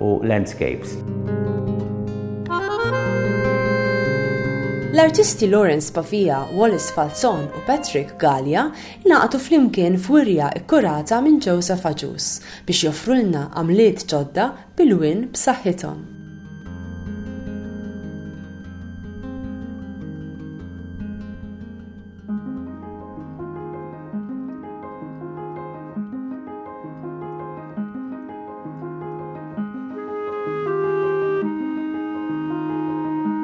u landscapes. L-artisti Lawrence Pavia, Wallace Falzon u Patrick Gallia ingħaqdu flimkien f'wirja kkurata minn Joseph Agius biex joffrulna għamliet ġodda bil-win b'saħħithom.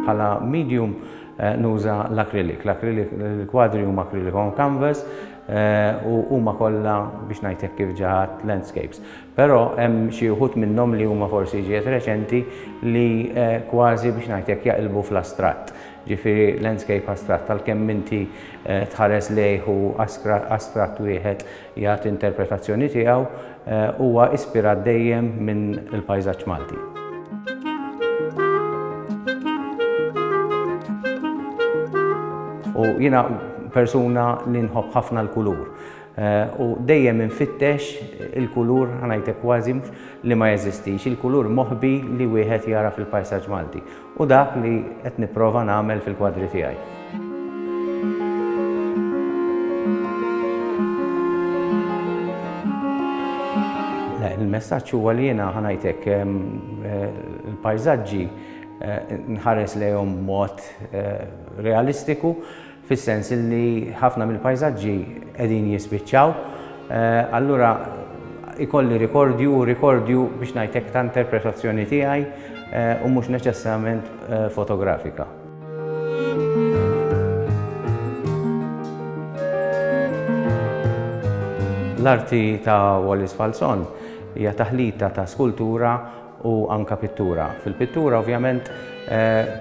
bħala medium eh, nuża l-akrilik. L-akrilik, l-kwadri huma akrilik on canvas eh, u huma kollha biex ngħidlek kif ġaħat landscapes. Però hemm xi wħud minnhom li huma forsi ġiet reċenti li eh, kważi biex ngħidlek jaqilbu fl-astratt. Ġifieri landscape astratt, għalkemm inti tħares lejh u astratt wieħed jagħti interpretazzjoni tiegħu, huwa ispirat dejjem minn il-pajsaġġ Malti. U jiena persuna li nħobb ħafna l-kulur. U dejjem infittex il-kulur, ħa ngħidlek kważi, li ma jeżistix, il-kulur moħbi li wieħed jara fil-pajsaġġ Malti. Hu dak li qed nipprova nagħmel fil-kwadri tiegħi. Il-messaġġ huwa li jiena ħanajtek il-pajżaġġi eh, nħares lejhom mod eh, realistiku fis-sens li ħafna mill-pajsaġġi qegħdin jispiċċaw, allura ikolli rikordju u rikordju biex ngħid hekk ta' interpretazzjoni tiegħi u mhux neċessarjament fotografika. L-arti ta' Wallis Falzon hija taħlita ta' skultura u anke pittura. Fil-pittura ovvjament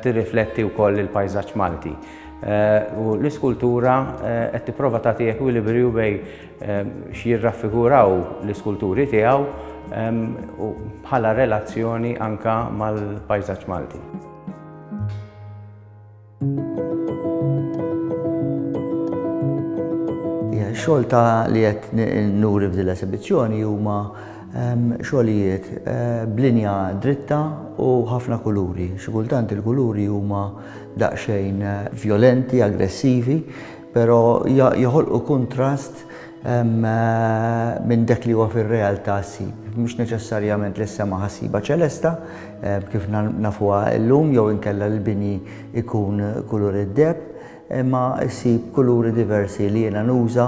tirrifletti wkoll il-pajsaġġ Malti. U l-iskultura qed tipprova tagħti ekwilibriju bejn x'jirraffiguraw l-iskulturi tiegħu bħala relazzjoni anke mal-pajsaġġ Malti. Ix-xogħol ta' li qed nuri f'din l-esibizzjoni huma xogħlijiet b'linja dritta u ħafna kuluri. Xi kultant il-kuluri huma daqsxejn vjolenti, aggressivi, però joħolqu kuntrast minn dak li huwa fir-realtà ssib, mhux neċessarjament lis-sema ħassiba ċelesta kif nafuha llum jew inkella li l-bini jkun kulur id-deheb, imma ssib kuluri diversi li jiena nuża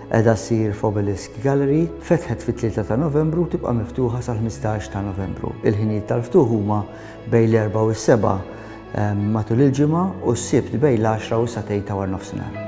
Qiegħda ssir f'Obelisk Gallery, fetħet fit-Tlieta ta' Novembru u tibqa' miftuħa sal-Ħmistax ta' Novembru. Il-ħinijiet tal-ftuħ huma bejn l-Erbgħa u s-Sebgħa matul il-ġimgħa u s-Sibt bejn l-Għaxra u s-Satejn ta' warnofsinhar.